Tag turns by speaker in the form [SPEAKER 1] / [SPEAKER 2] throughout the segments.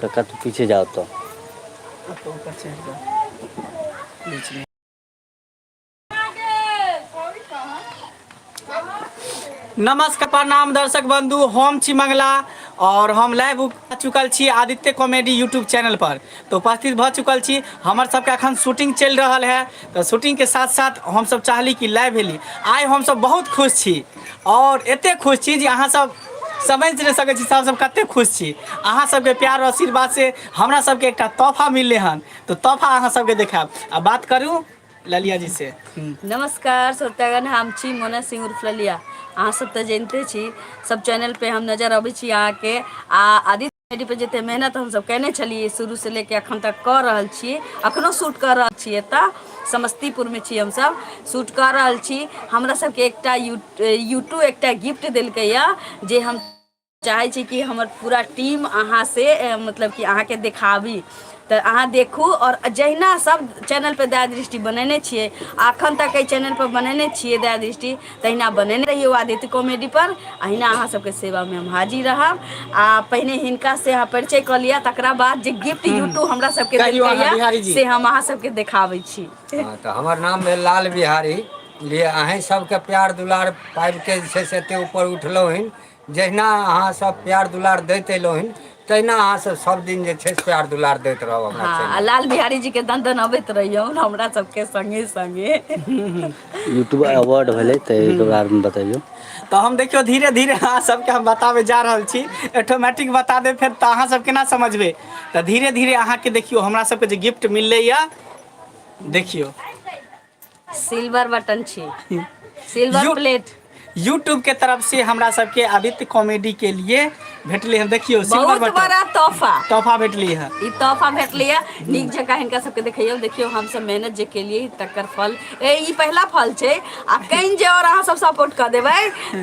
[SPEAKER 1] कक्का तू पीछे जाओ तो तो
[SPEAKER 2] ऊपर चढ़ जा बीच में नमस्कार प्रणाम दर्शक बंधु हम छी मंगला और हम लाइव आ चुकल छी आदित्य कॉमेडी यूट्यूब चैनल पर तो उपस्थित भ चुकल छी हमर सबके अखन शूटिंग चल रहल है तो शूटिंग के साथ साथ हम सब चाहली कि लाइव भेली आइ हम सब बहुत खुश छी आओर एते खुश छी जे अहाँ सब समझ नहि सकै छी सब सब कते खुश छी अहाँ सबके प्यार आओर आशीर्वाद से हमरा सबके एकटा तोफा मिललै हन तऽ तोफा अहाँ सबके देखायब आ बात करू ललिया जी से हूँ नमस्कार
[SPEAKER 3] सत्यागन हम छी मोना सिंह उर्फ ललिया अहाँ सब तऽ जनिते छी सब चैनल पे हम नजर अबै छी अहाँके आ आदित्य आइडी पर जते मेहनत हम सब केने छलियै शुरू से ले के अखन तक क रहल छीयै अखनो शूट क रहल छीयै एतऽ समस्तीपुर मे छी हम सब शूट क रहल छी हमरा सब के एकटा यू यूट्यू एकटा गिफ्ट देलकै या जे हम चाहै छी कि हमर पूरा टीम अहाँ से ए मतलब कि अहाँके देखाबी तऽ अहाँ देखू और जहिना सब चैनल पर दया दृष्टि बनेने छियै अखन तक ए चैनल पर बनेने छियै दया दृष्टि तहिना बनेने रहियौ आदित्य कॉमेडी पर अहिना अहाँ सबके सेवा मे हम हाजिर रहब आ पहिने हिनका से अहाँ परिचय कऽ लिअ तकरा बाद जे गिफ्ट हूँ यूट्यूब हमरा सबके कहियौ अहाँ देलकैया बिहारी जी से हम अहाँ सबके देखाबै छी हँ तऽ हमर नाम
[SPEAKER 4] भेल लाल बिहारी जे अहीँ सभके प्यार दुलार पाबि कऽ जे छै से एतेक ऊपर उठलहुँ हन जहिना अहाँ सब प्यार दुलार दैत एलहु हन तहिना अहाँ सब सब दिन जे छै से प्यार दुलार दैत रहब हमरा हँ आ चैनल लाल बिहारी
[SPEAKER 3] जी के
[SPEAKER 4] दंदन
[SPEAKER 3] अबैत रहियौ हमरा सबके संगे संगे
[SPEAKER 1] यूट्यूब अवार्ड भेलै ताहिके बारेमे बतैयौ तऽ हम देखियौ
[SPEAKER 2] धीरे धीरे अहाँ सबके हम बताबे जा रहल छी ऑटोमेटिक बता देब फेर तऽ अहाँ सब केना समझबै तऽ धीरे धीरे अहाँके देखियौ हमरा सबके जे गिफ्ट मिललैया देखियौ
[SPEAKER 3] सिल्वर बटन छी सिल्वर यू प्लेट यूट्यूब के
[SPEAKER 2] तरफ से हमरा सबके अबित कॉमेडी के लिए भेटलै हन देखियौ सिल्वर बहुत बटन बड़ा तोहफा
[SPEAKER 3] तोहफा भेटलै हँ
[SPEAKER 2] ई तोहफा भेटलै है
[SPEAKER 3] नीक जकाँ हिनका सबके देखैयौ देखियौ हमसब मेहनत जे केलियै तकर फल ए ई पहिला फल छै आ कहीं जे और अहाँ सब सपोर्ट कऽ देबै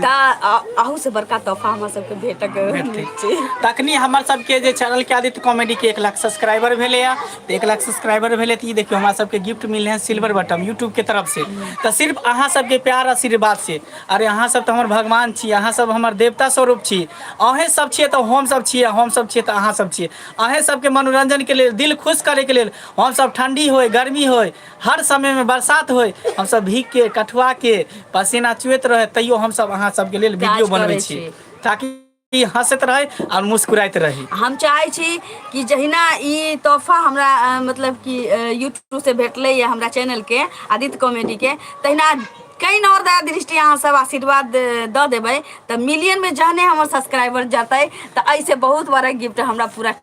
[SPEAKER 3] तऽ अहू से बड़का तोहफा हमरा सबके भेटक भेटतै। उम्मीद छै तखनी हमर
[SPEAKER 2] सबके जे चैनल के आदित्य कॉमेडी के एक लाख सब्सक्राइबर भेलैए तऽ एक लाख सब्सक्राइबर भेलै तऽ ई देखियौ हमरा सबके गिफ्ट मिललै हँ सिल्वर बटम यूट्यूब के तरफ से तऽ सिर्फ अहाँ सबके प्यार आशीर्वाद से अरे अहाँ सब तऽ हमर भगवान छी अहाँ सब हमर देवता स्वरूप छी अहें सब छियै तऽ हम सब छियै हम सब छियै तऽ अहाँ सब छियै अहें सबके मनोरंजन के लेल दिल खुश करे के लेल हम सब ठंडी होय गर्मी होय हर समय मे बरसात होय हम सब भीग के कठुआ के पसेना चुएत रहै तैयो हम सब अहाँ सबके लेल वीडियो काज बनबै करै छी ताकि ई हँसैत रहै आओर मुस्कुराइत रही हम चाहै छी
[SPEAKER 3] कि जहिना ई तोहफा हमरा अ, मतलब कि यूट्यूब से भेटलैए हमरा चैनलके आदित्य कॉमेडीके तहिना कहीं और दया दृष्टि अहाँ सब आशीर्वाद अ, दऽ देबै तऽ मिलियनमे जहने हमर सब्सक्राइबर जेतै तऽ एहिसँ बहुत बड़ा गिफ्ट हमरा पूरा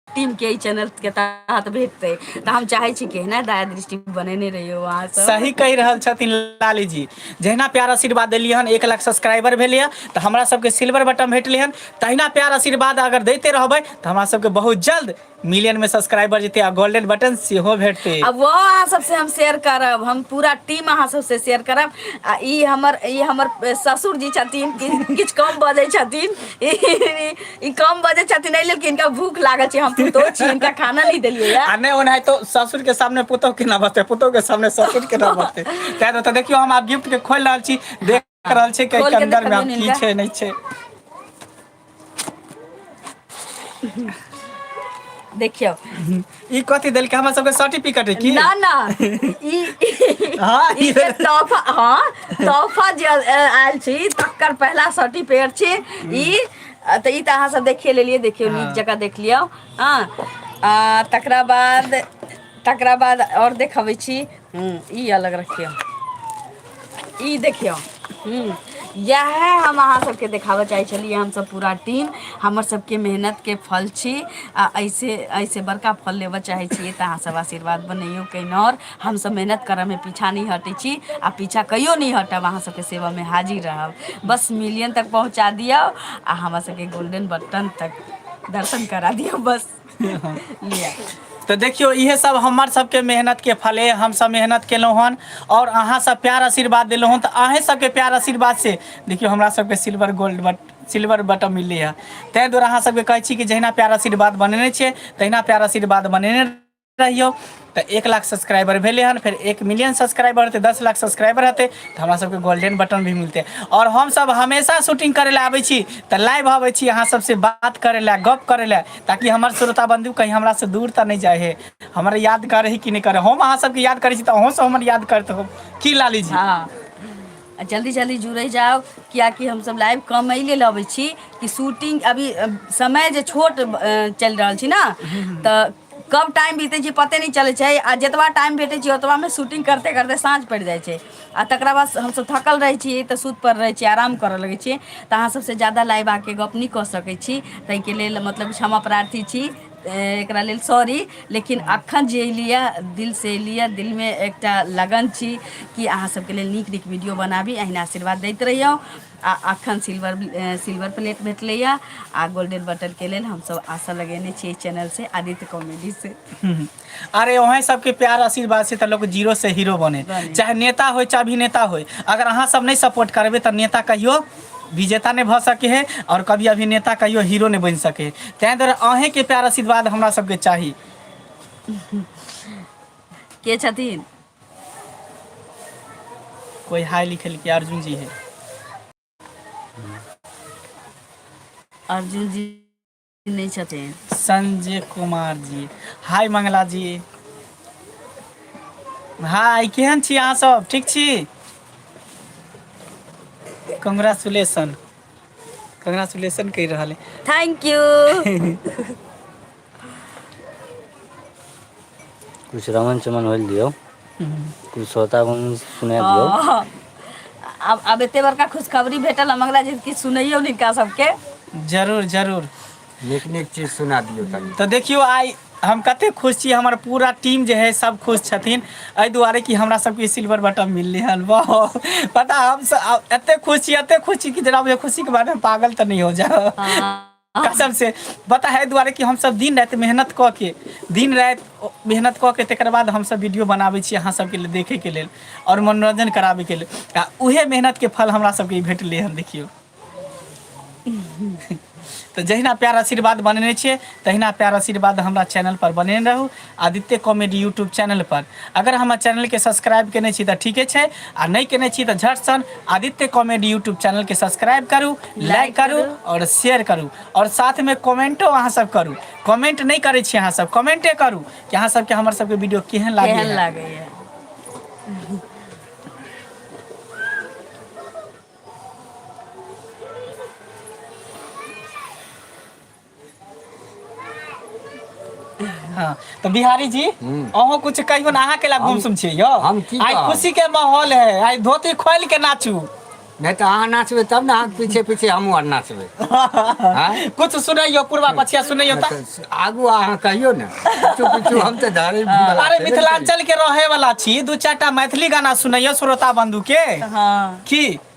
[SPEAKER 3] टीम के ई चैनल के तहत भेटतै तऽ हम चाहै छी कि एहना दया दृष्टि बनेने रहियो अहाँ सब सही कहि रहल छथिन
[SPEAKER 2] लाली जी जहिना प्यार आशीर्वाद देलियै हन एक लाख सब्सक्राइबर भेलै हँ तऽ हमरा सबके सिल्वर बटन भेटलै हन तहिना प्यार आशीर्वाद अगर दैते रहबै तऽ हमरा सबके बहुत जल्द मिलियन में सब्सक्राइबर जेतै आ गोल्डन बटन सेहो भेटतै आ वो अहाँ सबसे
[SPEAKER 3] हम शेयर करब हम पूरा टीम अहाँ सबसे शेयर करब आ ई हमर ई हमर ससुर जी छथिन कि- किछु कम बजै छथिन ई कम बजे छथिन एहि लेल कि हिनका भूख लागल छै हम पुतोह छी हिनका खाना नहि देलियै या आ नहि ओनाहि तो ससुर
[SPEAKER 2] के सामने पुतोह केना बचतै पुतोह के सामने ससुर केना बचतै तै तो देखियो हम आब गिफ्ट के खोल रहल छी देख रहल छी कि के अंदर में आब की छै नै छै
[SPEAKER 3] देखियो ई
[SPEAKER 2] कथी देलकै हमरा सबके सर्टिफिकेट है की ना ना
[SPEAKER 3] ई हाँ, ई ई- जे
[SPEAKER 2] तोहफा
[SPEAKER 3] हाँ तोहफा जे आयल- आयल छी तकर पहला सर्टिफिकेट छी ई अ, तऽ ई तऽ अहाँ सब देखिए लेलिए देखियो नीक जकाँ देख लियौ हाँ आ, तकरा बाद तकरा बाद आओर देखबै छी हूँ ई अलग रखियौ ई देखियौ हूँ इएह हम अहाँ सबके देखाबऽ चाहे छलियै हमसब पूरा टीम हमर सबके मेहनत के फल छी आ ऐसे ऐसे बड़का फल लेबऽ चाहे छियै तऽ अहाँ सब आशीर्वाद बनैयौ कहिनो आओर हमसब मेहनत करऽ मे पीछा नहि हटै छी आ पीछा कहियो नहि हटब अहाँ सबके सेवा मे हाजिर रहब बस मिलियन तक पहुँचा दियौ आ हमरा सबके गोल्डेन बटन तक दर्शन करा दियौ बस लिअ तऽ
[SPEAKER 2] देखियौ इएहे सब हमर सबके मेहनत के फल यऽ हमसब मेहनत केलौं हन और अहाँ सब प्यार आशीर्वाद देलौं हन तऽ अहें सबके प्यार आशीर्वाद से देखियौ हमरा सबके silver gold but silver button मिललै हँ तैं द्वारा अहाँ सबके कहै छी कि जहिना प्यार आशीर्वाद बनेने छियै तहिना प्यार आशीर्वाद बनेने कहियौ तऽ एक लाख सब्सक्राइबर भेलै हन फेर एक मिलियन सब्सक्राइबर हेतै दस लाख सब्सक्राइबर हेतै तऽ हमरा सबके गोल्डेन बटन भी मिलतै आओर हमसभ हमेशा शूटिंग करै लए आबै छी तऽ लाइव अबै छी अहाँ सबसँ बात करै लए गप करै लए ताकि हमर श्रोता बन्धु कही हमरा से दूर तऽ नहि जाइ हे हमरा याद करै कि नहि करै हम अहाँ सबके याद करै छी तऽ अहूँसँ हमर याद करैत होब की लाली जी हँ आ
[SPEAKER 3] जल्दी जल्दी जुड़ै जाउ कियाकि हमसभ लाइव कम एहि लेल अबै छी कि शूटिंग अभी समय जे छोट चलि रहल छी ने तऽ कब टाइम बीते छै पते नहि चलै छै आ जतबा टाइम भेटै छै ओतबामे शूटिंग करते करते साँझ पड़ि जाइ छै आ तकरा बाद हमसभ थकल रहै छी तऽ सुत परल रहै छी आराम करऽ लगै छियै तऽ अहाँ सभसँ ज्यादा लाइव आके गप्प नहि कऽ सकै छी ताहिके लेल मतलब क्षमा प्रार्थी छी एकरा लेल सॉरी लेकिन अखन जे एयलिए दिलसँ एयलिए दिलमे एकटा लगन छी कि अहाँ सभके लेल नीक नीक वीडियो बनाबी अहिना आशीर्वाद दैत रहियौ आ अखन सिल्वर सिल्वर प्लेट भेटलैए आ गोल्डन बटन के लेल हमसभ आशा लगेने छी एहि चैनल से आदित्य कॉमेडी से अरे
[SPEAKER 2] वहाँ सबके प्यार आशीर्वाद से तो लोग जीरो से हीरो बने बने। चाहे नेता हो चाहे अभिनेता हो अगर अहाँ सब नहीं सपोर्ट करबे तो नेता कहियो विजेता नहीं भ सके है और कभी अभिनेता कहियो हीरो नहीं बन सके है तैं दुआरे अहें के प्यार आशीर्वाद हमरा सबके चाही
[SPEAKER 3] के छथिन
[SPEAKER 2] कोई हाय लिखल के अर्जुन जी है
[SPEAKER 3] अर्जुन जी नहीं चाहते हैं संजय
[SPEAKER 2] कुमार जी हाय मंगला जी हाय केहन छी अहाँ सब ठीक छी कंग्रेचुलेशन कंग्रेचुलेशन कहि रहल है थैंक यू
[SPEAKER 1] किछु रमन चमन होइल दियौ किछु श्रोता बन सुना दियौ हँ। आब
[SPEAKER 3] आब एते बड़का खुशखबरी भेटल हम अगला जे किछु सुनैयौ हिनका सबके जरूर
[SPEAKER 2] जरूर नीक नीक चीज
[SPEAKER 4] सुना दियौ तनी तऽ देखियौ आइ
[SPEAKER 2] हम कते खुश छी हमर पूरा टीम जे है सब खुश छथिन एहि दुआरे कि हमरा सबके सिल्वर बटन मिललै हन वाह पता हम सब एते खुश छी एते खुश छी कि जेना बुझियौ खुशीके बारेमे पागल तऽ नहि हो जाउ हँ। कसम से पता है दुआरे कि हम सब दिन रात मेहनत क के दिन रात मेहनत क के तकर बाद हम सब वीडियो बनाबै छी अहाँ सबके लेल देखे के लेल और मनोरंजन कराबे के लेल आ उहे मेहनत के फल हमरा सबके भेटले हन देखियो तो जहिना प्यार आशीर्वाद बनेने छियै तहिना प्यार आशीर्वाद हमरा चैनल पर बनेने रहू आदित्य कॉमेडी यूट्यूब चैनल पर अगर हमार चैनल के सब्सक्राइब केने छी तऽ ठीके छै आ नहि केने छी तऽ झट सन आदित्य कॉमेडी यूट्यूब चैनल के सब्सक्राइब करू लाइक करू और शेयर करू और साथ में कमेंटो अहाँ सब करू कमेंट नहि करै छी अहाँ सब कमेंटे करू कि अहाँ सबके हमर सबके वीडियो केहन लागैए केहन लागैए हाँ, तो बिहारी जी अहो कुछ कहियो ना अहाँ के ला गुमसुम छी यो हम की आई कहब? खुशी के माहौल है आई धोती खोल के नाचू नहीं तो अहाँ
[SPEAKER 4] नाचबे तब ना अहाँ पीछे पीछे हमहूँ आर नाचबे हाँ?
[SPEAKER 2] कुछ सुनैयो पूर्वा पछिया सुनैयो ता तो आगू अहाँ
[SPEAKER 4] कहियो ने पीछू पीछू हम तो धरे अरे मिथिलांचल
[SPEAKER 2] के रहे वाला छी दू चार टा मैथिली गाना सुनैयो श्रोता बंधु के हाँ की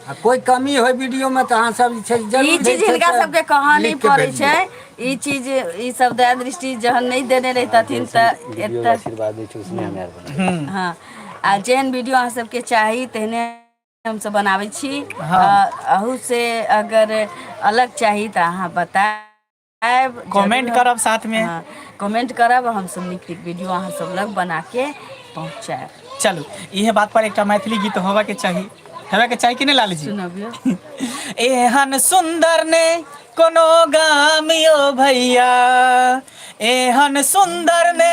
[SPEAKER 4] आ कोइ कमी होय वीडियो मे तऽ अहाँ सब जे छै ई जरूर जे चीज छै हिनका से सबके
[SPEAKER 3] कहऽ नहि लिख के पड़ै छै भेजियौ ई चीज ई सब दया दृष्टि जहन नहि देने हँ रहितथिन जैसन तऽ वीडियो एतऽ आशीर्वाद दै छै उसने हमे आर
[SPEAKER 1] बनबै छियै हँ आ
[SPEAKER 3] जेहन वीडियो अहाँ सबके चाही तेहने हमसब बनाबै छी हँ अहू से अगर अलग चाही तऽ अहाँ बतायब आयब कमेंट जरूर करब
[SPEAKER 2] साथ मे हँ कमेंट करब
[SPEAKER 3] हम सब नीक नीक वीडियो अहाँ सब लग बना के पहुँचायब चलू इहे
[SPEAKER 2] बात पर एकटा मैथिली गीत होबय के चाही हेबय के चाही कि नहि लाल जी सुनबियौ
[SPEAKER 3] एहन
[SPEAKER 2] सुन्दर ने कोनो गाम यो भैया एहन सुन्दर ने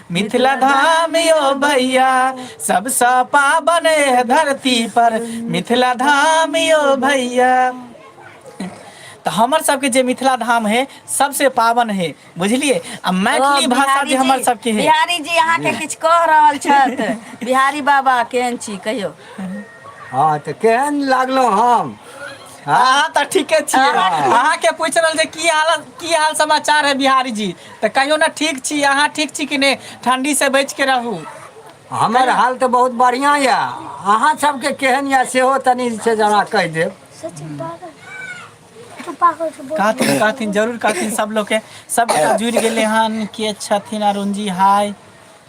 [SPEAKER 2] मिथिला धाम यो भैया सबसँ पावन एह धरती पर मिथिला धाम यो भैया तऽ हमर सबके जे मिथिला धाम है सबसे पावन है बुझलिए आ मैथिली ओ, भाषा बिहारी जे हमर जी- सबके है बिहारी जी अहाँके किछु
[SPEAKER 3] कह रहल छथि बिहारी बाबा केहन छी कहियौ हँ
[SPEAKER 4] तऽ केहन लागलहुँ हम हँ अहाँ तऽ
[SPEAKER 2] ठीके छियै हँ अहाँके पूछि रहल छै की हालत की हाल समाचार है बिहारी जी तऽ कहियो ने ठीक छी अहाँ ठीक छी कि नहि ठण्डी से बच के रहू हमर कहियौ
[SPEAKER 4] हाल तऽ बहुत बढ़िआँ यए अहाँ सभके केहन यए सेहो तनि छै जे हमरा कहि देब
[SPEAKER 2] कहथिन कहथिन जरूर कहथिन सभलोगके सभगोटा जुड़ि गेलै हन के छथिन अरुणजी हाय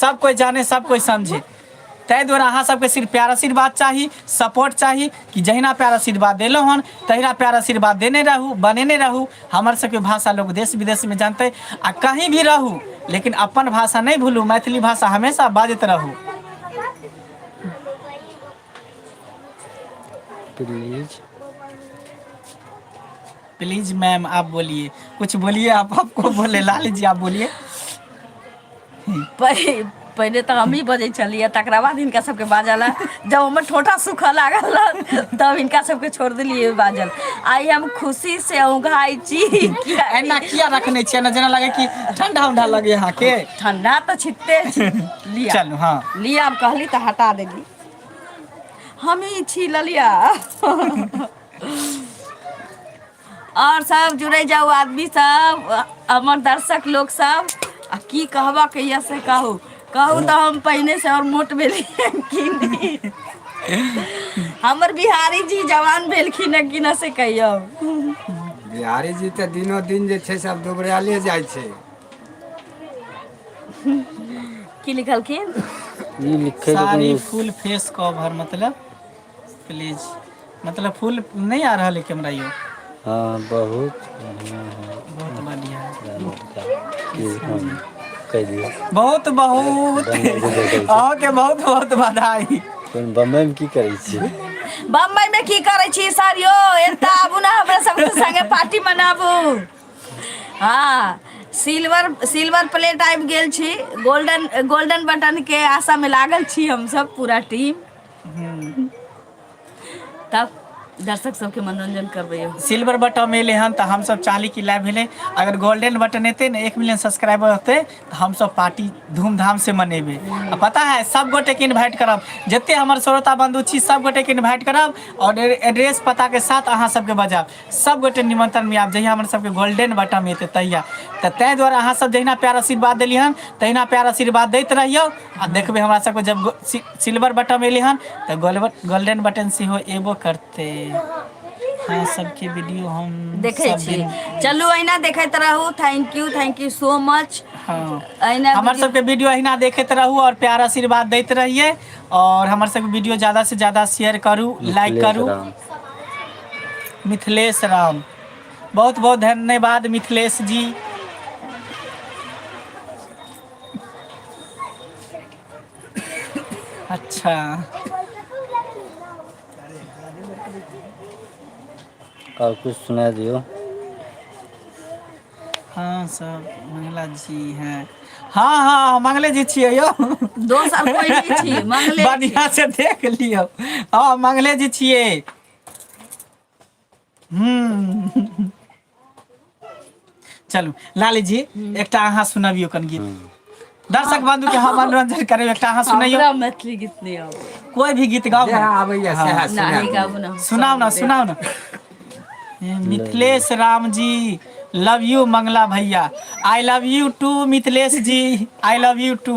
[SPEAKER 2] सब कोई जाने सब कोई समझे ताहि दुआरे अहाँ सबके सिर्फ प्यार आशीर्वाद चाही सपोर्ट चाही कि जहिना प्यार आशीर्वाद देलहुँ हन तहिना प्यार आशीर्वाद देने रहू बनेने रहू हमर सबके भाषा लोग देश विदेशमे जानतै आ कहीं भी रहू लेकिन अपन भाषा नहि भूलू मैथिली भाषा हमेशा बाजैत रहू प्लीज प्लीज मैम आप बोलिए कुछ बोलिए आप आपको बोले लाल जी आप बोलिए पहि-
[SPEAKER 3] पहिले तऽ हमही बजै छलियै तकरा बाद हिनका सबके बाजल है। जब हमर ठोठा सूखऽ लागल रहै, तब हिनका सबके छोड़ देलियै बाजल आइ हम खुशी से उघाइ छी एना किया
[SPEAKER 2] रखने छियै ना जेना लगे कि ठंडा उंडा लगे यहाँ के ठंडा तऽ छिते
[SPEAKER 3] छी। लिअ चलू हाँ लिअ
[SPEAKER 2] आब कहली तऽ
[SPEAKER 3] हटा देली हमही छी ललिया आओर सब जुड़ै जाउ आदमी सब हमर दर्शक लोक सब आ की कहबा के यऽ से कहू कहू तऽ हम पहिने से आओर मोट भेलियै कि नहि। हमर बिहारी जी जवान भेलखिन हेँ कि नहि से कहियौ
[SPEAKER 4] बिहारी जी तऽ दिनो दिन जे छै से आब दुबरायले जाइ छै
[SPEAKER 3] की लिखलखिन ई लिखे के
[SPEAKER 2] साड़ी कोनो फुल फेस कवर मतलब प्लीज मतलब फूल नहि आ रहल है कैमरा यौ हँ बहुत
[SPEAKER 1] बढ़िया है बहुत
[SPEAKER 2] बढ़िया
[SPEAKER 1] कहि दियौ बहुत बहुत
[SPEAKER 2] अहाँके बहुत बहुत बधाई कोन बम्बई मे की
[SPEAKER 1] करै छियै बम्बई में
[SPEAKER 3] की करे छी सर यो एता आबू ना हमरा सब संगे पार्टी मनाबू हँ सिल्वर सिल्वर प्लेट आबि गेल छी गोल्डन गोल्डन बटन के आशा मे लागल छी हमस पूरा टीम हूँ तब दर्शक सबके मनोरंजन करबै यौ सिल्वर बटम एलै
[SPEAKER 2] हन तऽ हमस चाहली क लाइभ भेलै अगर गोल्डेन बटन एतै ने एक मिलियन सब्सक्राइबर रहतै तऽ हमस पार्टी धूम धाम से मनेबै आ पता है सब गोटे के इन्वाइट करब जते हमर श्रोता बन्धु छी सब गोटे के इन्वाइट करब आओर एड्रेस पता के साथ अहाँ सबके बजायब सभगोटे निमंत्रण में आब जहिया हमर सबके गोल्डन बटम एतै तहिया तऽ ताहि दुआरे अहाँ सब जहिना प्यार आशीर्वाद देली हन तहिना प्यार आशीर्वाद दैत रहियौ आ देखबै हमरा सबके जब गो- सि- सिल्वर बटम एलै हन तऽ गोल्व- गोल्डन बटन सेहो एबो करतै अहाँ सबके वीडियो हम देखै सब छी दिन-
[SPEAKER 3] चलू अहिना देखैत रहू thank you thank you so much हँ अहिना
[SPEAKER 2] हमर वीडियो- सबके वीडियो अहिना देखैत रहू और प्यार आशीर्वाद दैत रहिए और हमर सबके वीडियो ज्यादा से ज्यादा शेयर करू लाइक करू राम। मिथिलेश राम बहुत बहुत धन्यवाद मिथिलेश जी अच्छा
[SPEAKER 1] और कुछ सुना दियो
[SPEAKER 2] हाँ सब मंगला जी हैं हाँ हाँ मंगले जी छियै यो दोसर कोई नहीं
[SPEAKER 3] छी मंगले छी। बढ़िया से देख
[SPEAKER 2] लियो हाँ मंगले जी छियै हम्म। चलू लाली जी एकटा अहाँ सुनबियौ कन गीत दर्शक बंधु के हम मनोरंजन करब एकटा अहाँ सुनैयौ हमरा मैथिली गीत नहि
[SPEAKER 3] आबै कोई भी गीत गाओ जएह
[SPEAKER 2] आबैए सएह ना सुना नहि
[SPEAKER 4] गाबू ना
[SPEAKER 3] सुनाओ
[SPEAKER 4] ना
[SPEAKER 3] सुनाओ ना
[SPEAKER 2] ए, मिथिलेश राम जी लव यू मंगला भैया I love you too Mithilesh ji I love you too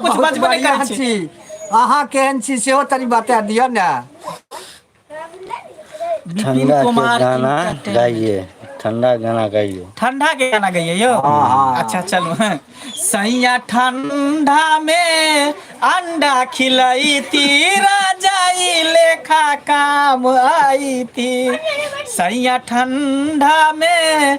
[SPEAKER 2] कुछ बहुत बजबे नहि बढ़िया करै
[SPEAKER 4] छी छी
[SPEAKER 2] अहाँ
[SPEAKER 4] केहन छी सेहो तनी बता दिअ ने विपिन
[SPEAKER 2] ठंडा के कुमार गाना
[SPEAKER 1] entertainment।
[SPEAKER 2] गाइए ठंडा
[SPEAKER 1] गाना गाइए ठंडा के गाना गइए
[SPEAKER 2] यौ हाँ, हाँ। अच्छा चलू
[SPEAKER 4] हैं।
[SPEAKER 2] सैया ठंडा में अंडा खिलैती राजाई लेखा काम आईती सैया ठंडा में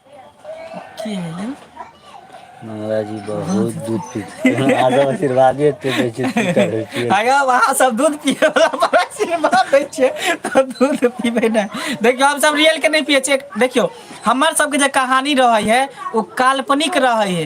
[SPEAKER 2] की भेलै मंगला
[SPEAKER 1] जी बहुत दूध पी अहाँ सब आशीर्वादे एते दै छियै की करै छियै आय यौ अहाँ सब
[SPEAKER 2] दूध पिये बला पर आशीर्वाद दै छियै तऽ दूध पीबै नै देखियौ हम सब रियल के नै पियै छियै देखियौ हमर सबके जे कहानी रहै है ओ काल्पनिक रहै है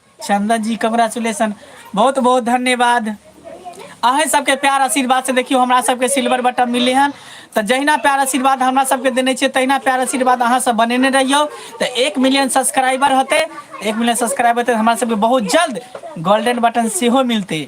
[SPEAKER 2] चंदन जी कंग्रेचुलेशन बहुत बहुत धन्यवाद अहें सबके प्यार आशीर्वाद से देखियो हमरा सबके सिल्वर बटन मिले हन तो जहिना प्यार आशीर्वाद हमरा सबके देने छे तहिना प्यार आशीर्वाद अहाँ सब बनेने रहियो तो एक मिलियन सब्सक्राइबर होते एक मिलियन सब्सक्राइबर होते हमरा सबके बहुत जल्द गोल्डन बटन सेहो मिलते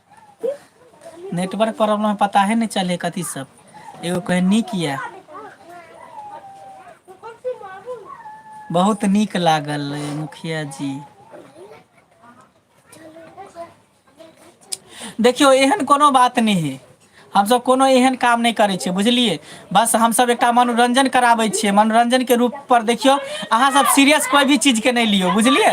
[SPEAKER 2] नेटवर्क प्रॉब्लम पता ह नहि चलै कथी सब एगो कह नीक यऽ बहुत नीक लागल मुखिया जी देखियौ एहन कोनो बात नहि हे हमसभ कोनो एहन काम नहि करै छियै बुझलियै बस हमसभ एकटा मनोरंजन कराबै छियै मनोरंजन के रूप पर देखियौ अहाँ सब सीरियस कोइ भी चीज के नहि लियौ बुझलियै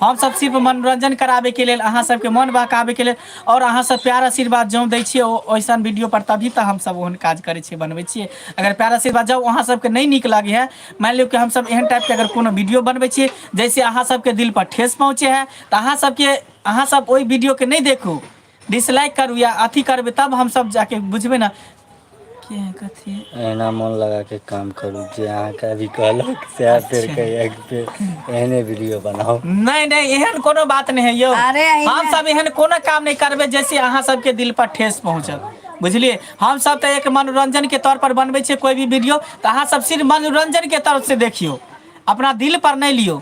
[SPEAKER 2] हमसभ सिर्फ मनोरंजन कराबै के लेल अहाँ सबके मोन बहकाबै के लेल आओर अहाँ सब प्यार आशीर्वाद जौं दै छियै ओ ओइसन वीडियो पर तभी तऽ हमसभ ओहन काज करै छियै बनबै छियै अगर प्यार आशीर्वाद जौं अहाँ सबके नहि नीक लागै है मानि लियौ कि हमसभ एहन टाइप के अगर कोनो वीडियो बनबै छियै जैसे अहाँ सबके दिल पर ठेस पहुँचे है तऽ अहाँ सबके अहाँ सब ओहि वीडियो के नहि देखू डिसलाइक करू या अथी करबै तब हमसभ जाके बुझबै ने के है कथी है। अहिना मोन लगा
[SPEAKER 1] के काम करू जे अहाँके अभी कहलक सएह फेर अच्छा। कहियै कि फेर एहने वीडियो बनाउ नहि नहि एहन
[SPEAKER 2] कोनो बात नहि है यौ अरे अहिना- हमसभ एहन
[SPEAKER 3] कोनो
[SPEAKER 2] काम नहि करबै जैसे अहाँ सबके दिल पर ठेस पहुँचत बुझलियै हमसभ तऽ एक मनोरंजन के तौर पर बनबै छियै कोई भी वीडियो तऽ अहाँ सब सिर्फ मनोरंजन के तरफ से देखियौ अपना दिल पर नहि लियौ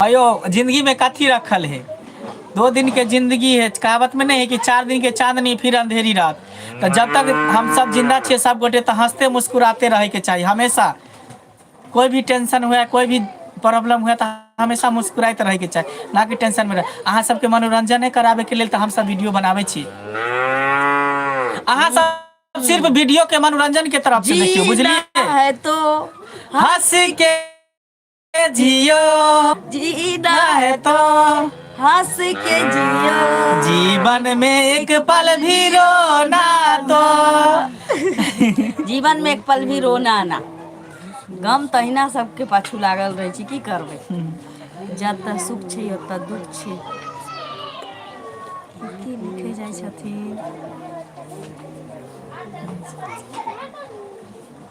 [SPEAKER 2] हयौ जिन्दगी मे कथी रखल है दो दिन के जिंन्दगी है कहावत मे नहि है कि चार दिन के चाँदनी फिर अन्धेरी रात तऽ जब तक हमसब जिन्दा छियै सबगोटे तऽ हँसते मुस्कुराते रहैके चाही हमेशा कोइ भी टेंशन हुए कोइ भी प्रॉब्लम हुए तऽ हमेशा मुस्कुराइत रहैके चाही ना कि टेंशन मे रह अहाँ सबके मनोरंजने कराबे के लेल तऽ हमसब वीडियो बनाबै छी अहाँ सब सिर्फ वीडियो के मनोरंजन के तरफ से देखियौ बुझलियै जीना है तो
[SPEAKER 3] हँस
[SPEAKER 2] के जियो
[SPEAKER 3] जीना है तो
[SPEAKER 2] हंस
[SPEAKER 3] के जियो जीवन में
[SPEAKER 2] एक पल भी रोना तो जीवन में एक पल भी
[SPEAKER 3] रोना आना गम तहिना सबके पाछू लागल रहै छै की करबै जतऽ सुख छै ओतऽ दुख छै की लिखे जाइ छथिन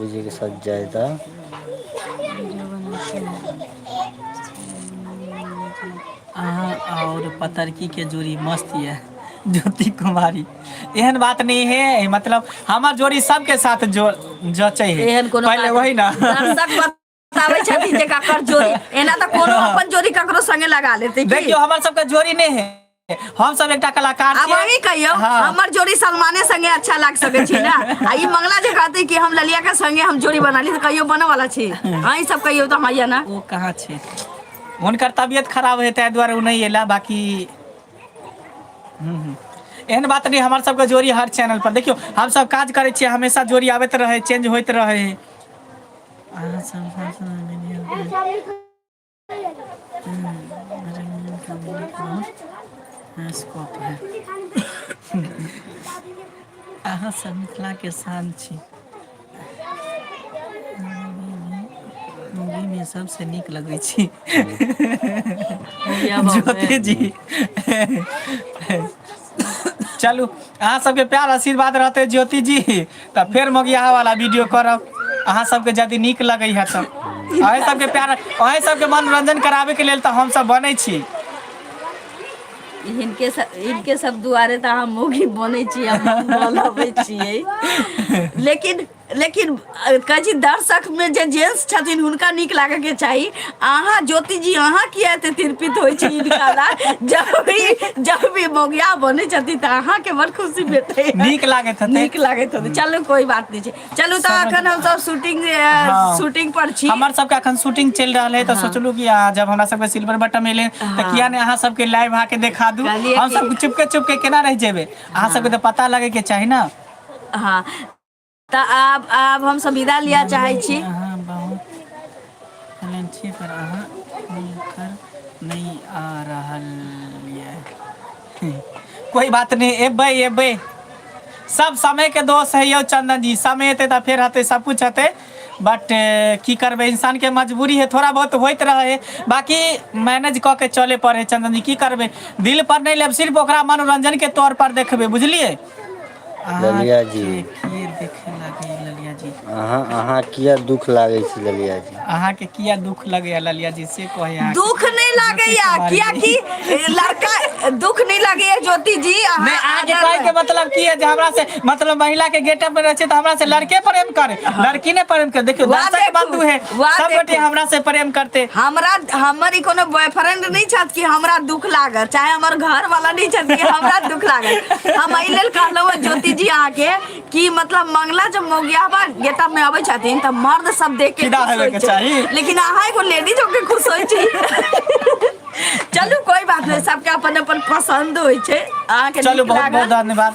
[SPEAKER 1] जी के साथ जाय त
[SPEAKER 2] अहाँ आओर पतरकी के जोड़ी मस्त यऽ ज्योति कुमारी एहन बात नहि हे मतलब हमर जोड़ी सबके साथ जो जचे हे एहन कोनो पहिले बात वही ने दर्शक बत-
[SPEAKER 3] बताबै छथिन जे ककर जोड़ी एना तऽ कोनो अपन जोड़ी ककरो संगे लगा लेतै की? देखियो हमर सबके जोड़ी
[SPEAKER 2] नहि है हम सब एकटा कलाकार आब अहीं कहियौ हाँ।
[SPEAKER 3] हमर जोड़ी
[SPEAKER 2] सलमाने
[SPEAKER 3] संगे अच्छा लाग सकै छी ना आ ई मंगला जे कहतै कि हम ललिया के संगे हम जोड़ी बना ली तऽ कहियो बनऽ वाला छी अहीं सब कहियौ तऽ हमरा ना ओ कहाँ छै
[SPEAKER 2] हुनकर तबियत खराब है ताहि दुआरे ओ नहि एला बाकी हम्म, हम्म। एहन बात नहि हमर सबके जोड़ी हर चैनल पर देखियो हम सब काज करै छियै हमेशा जोड़ी आबैत रहै चेंज होइत रहै अहाँ सब अहाँ सब मिथिला के शान छी मुगीमे सभसँ नीक लगै छै हूँ इएह बात जोते जी चलू अहाँ सबके प्यार आशीर्वाद रहतै ज्योति जी तऽ फेर मौगिआहा वाला वीडियो करब अहाँ सबके यदि नीक लगै है तऽ अही सबके प्यार अही सबके मनोरंजन कराबे के लेल तऽ हमस बनै छी हिनके
[SPEAKER 3] सब हिनके सब दुआरे तऽ अहाँ मौगी बनै छी हम बोलबै छियै लेकिन लेकिन अ, कहै छी दर्शकमे जे जेंट्स छथिन हुनका नीक लागयके चाही अहाँ ज्योति जी अहाँ किया एते तिरपित होइ छी हिनका लए जब भी जब भी मौगिया बनै छथिन तऽ अहाँके बड़ खुशी भेटै नीक लागैत हेतै। नीक
[SPEAKER 2] लागैत हेतै चलू
[SPEAKER 3] कोई बात नहि छै चलू तऽ समझ- अखन हमसब शूटिंग हँ। शूटिंग पर छी हमर सबके अखन शूटिंग
[SPEAKER 2] चलि रहल है तऽ हँ। सोचलू कि अहाँ जब हमरा सबके सिल्वर बटम एले तऽ हँ। किया ने अहाँ सबके लाइव अहाँके देखा दू कहलियै हम कि सब चुपके चुपके केना रहि जेबै अहाँ सबके हँ तऽ पता लगै के चाही ने हँ
[SPEAKER 3] तऽ आब आब हम सब विदा लिअ चाहै छी माननीय अहाँ बहुत
[SPEAKER 2] टैलेंट छी पर अहाँ हुनकर नहि आ रहल यै कोइ बात नहि एबै एबै सब समय के दोष है यौ चंन्दन जी समय एतै तऽ फेर हेतै सबकुछ हेतै बट की करबै इंसान के मजबूरी है थोड़ा बहुत होइत रहै है बाकी मैनेज कऽ के चले पड़े है चंन्दन जी की करबै दिल पर नहि लेब सिर्फ ओकरा मनोरंजन के तौर पर देखबै बुझलियै अहाँ ललिया
[SPEAKER 1] जी के की देख
[SPEAKER 2] लागी ललिया जी अहाँ अहाँ किए
[SPEAKER 1] दुःख लागै छी ललिया जी अहाँके किया दुःख
[SPEAKER 2] लगैया ललिया जी से कहै अहाँ दुःख नहि लागैया
[SPEAKER 3] कियाकि लड़का दुःख नहि लागैया ज्योति जी नहि अहाँ अहाँके कहै
[SPEAKER 2] के मतलब की है जे हमरा से मतलब महिला के गेटप मे रहे छै तऽ हमरा से लड़के प्रेम करे लड़की ने प्रेम करे देखियौ वाह, दर्शक देखू। बंधु है वाह, सब गोटे देखू। हमरा से प्रेम करते हमरा हमर
[SPEAKER 3] ई कोनो बॉयफ्रेंड नहीं छत कि हमरा दुख लागल चाहे हमर घर वाला नहीं छत कि हमरा दुख लागल हम एहि लेल कहलहुँ हँ ज्योति जी अहाँ के कि मतलब मंगला जब मोगियाबा गेटअप में अबै छथिन तऽ मर्द सब देख के फिदा खुश होय होइके छै। चाही। लेकिन अहाँ एगो लेडीज होके खुश होइ छी चलू कोई बात नहीं सबके अपन अपन पसंद होइ छै अहाँ के चलू नीक बहुत बहुत लागल। धन्यवाद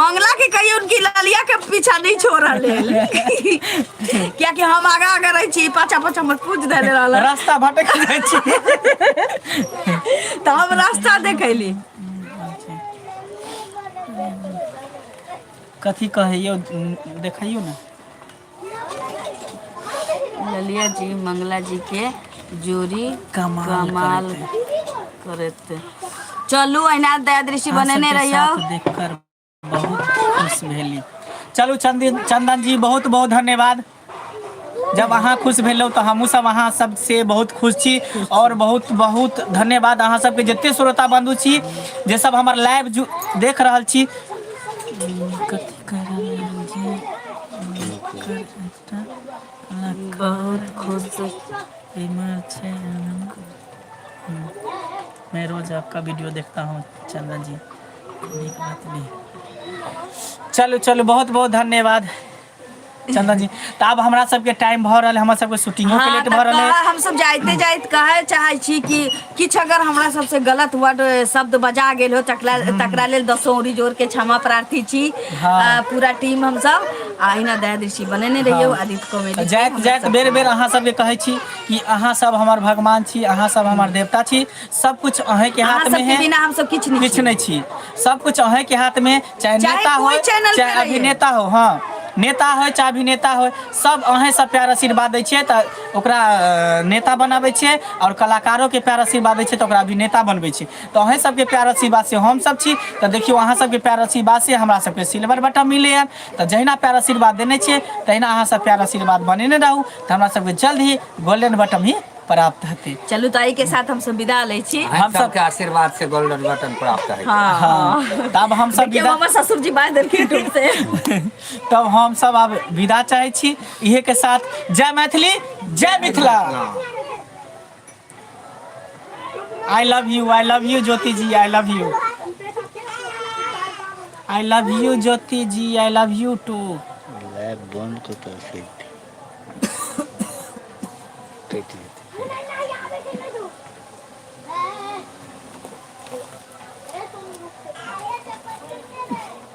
[SPEAKER 3] मंगला के कहियो उनकी ललिया के पीछा नहीं छोड़ रहे क्या कि हम आगा आगा रहे छी पाछा पाछा मत पूछ दे रहल रास्ता भटक जाइ
[SPEAKER 2] छी तो
[SPEAKER 3] हम रास्ता देखैली
[SPEAKER 2] कथी कहैयो देखैयो ने
[SPEAKER 3] ललिया जी मंगला जी के जोड़ी कमाल कमाल करत चलू अहिना दया दृष्टि अहाँ बनेने सबके रहियो साथ देखकर
[SPEAKER 2] बहुत खुश भेली चलू चंदन चंदन जी बहुत बहुत धन्यवाद जब अहाँ खुश भेलहुँ तऽ हमहूँ सब अहाँ सबसे बहुत खुश छी आओर बहुत बहुत धन्यवाद अहाँ सबके जते श्रोता बंधु छी जे सब हमर लाइव देख रहल छी कथी कर रहल छी
[SPEAKER 3] बहुत खुश एहिमे छै
[SPEAKER 2] मैं रोज आपका वीडियो देखता हूँ चंदन जी नीक बात भी चलू चलू बहुत बहुत धन्यवाद चंदन जी तऽ आब हमरा सबके टाइम भऽ रहल है हमर सबके शूटिंगो के हाँ, लेट तब भऽ रहल है कहा हम सब जाते जाते
[SPEAKER 3] कहे चाहे छी कि किछु अगर हमरा सबसँ गलत वर्ड शब्द बजा गेल हो तकरा तकरा लेल दसो औरी जोर के क्षमा प्रार्थी छी हँ। पूरा टीम हम सब आ एहिना दया दृष्टि बनेने रहियौ हँ आदित्य कॉमेडी के जाइत हमरा जाइत सब बेर बेर
[SPEAKER 2] अहाँ सबके कहै छी कि अहाँ सब हमर भगवान छी अहाँ सब हमर देवता छी सब कुछ अहें के अहाँ हाथ में सबके है बिना हमसब किछु नहि किछ छी
[SPEAKER 3] नहि छी सब कुछ
[SPEAKER 2] अहें के हाथ में चाहे चाहे नेता कोइ होय चैनल चाहे पे रहियै। अभिनेता हो हँ नेता होय चाहे अभिनेता होय सब अहें सब प्यार आशीर्वाद दै छियै तऽ ओकरा अ, नेता बनाबै छियै और कलाकारो के प्यार आशीर्वाद दै छियै तऽ ओकरा अभिनेता बनबै छियै तऽ अहें सबके प्यार आशीर्वाद से हम सब छी तऽ देखियौ अहाँ सबके प्यार आशीर्वाद से हमरा सबके सिल्वर बटन मिले है तऽ जहिना प्यार आशीर्वाद देने छियै तहिना अहाँ सब प्यार आशीर्वाद बनेने रहू तऽ हमरा सबके जल्द ही गोल्डन बटन ही प्राप्त हेतै चलू तऽ एहि के साथ हम
[SPEAKER 3] सब विदा लै छी हम सब- सबके आशीर्वाद
[SPEAKER 4] से गोल्डन बटन प्राप्त है हाँ हाँ तब
[SPEAKER 2] हम सब देखियौ विदा हमर ससुर जी बाज देलखिन
[SPEAKER 3] टूट से तब हम
[SPEAKER 2] सब अब विदा चाहे छी इहे के साथ जय मैथिली जय Mithila I love you I love you Jyoti ji I love you I love you Jyoti ji I love you too lab बंद
[SPEAKER 1] को तो फिर टेट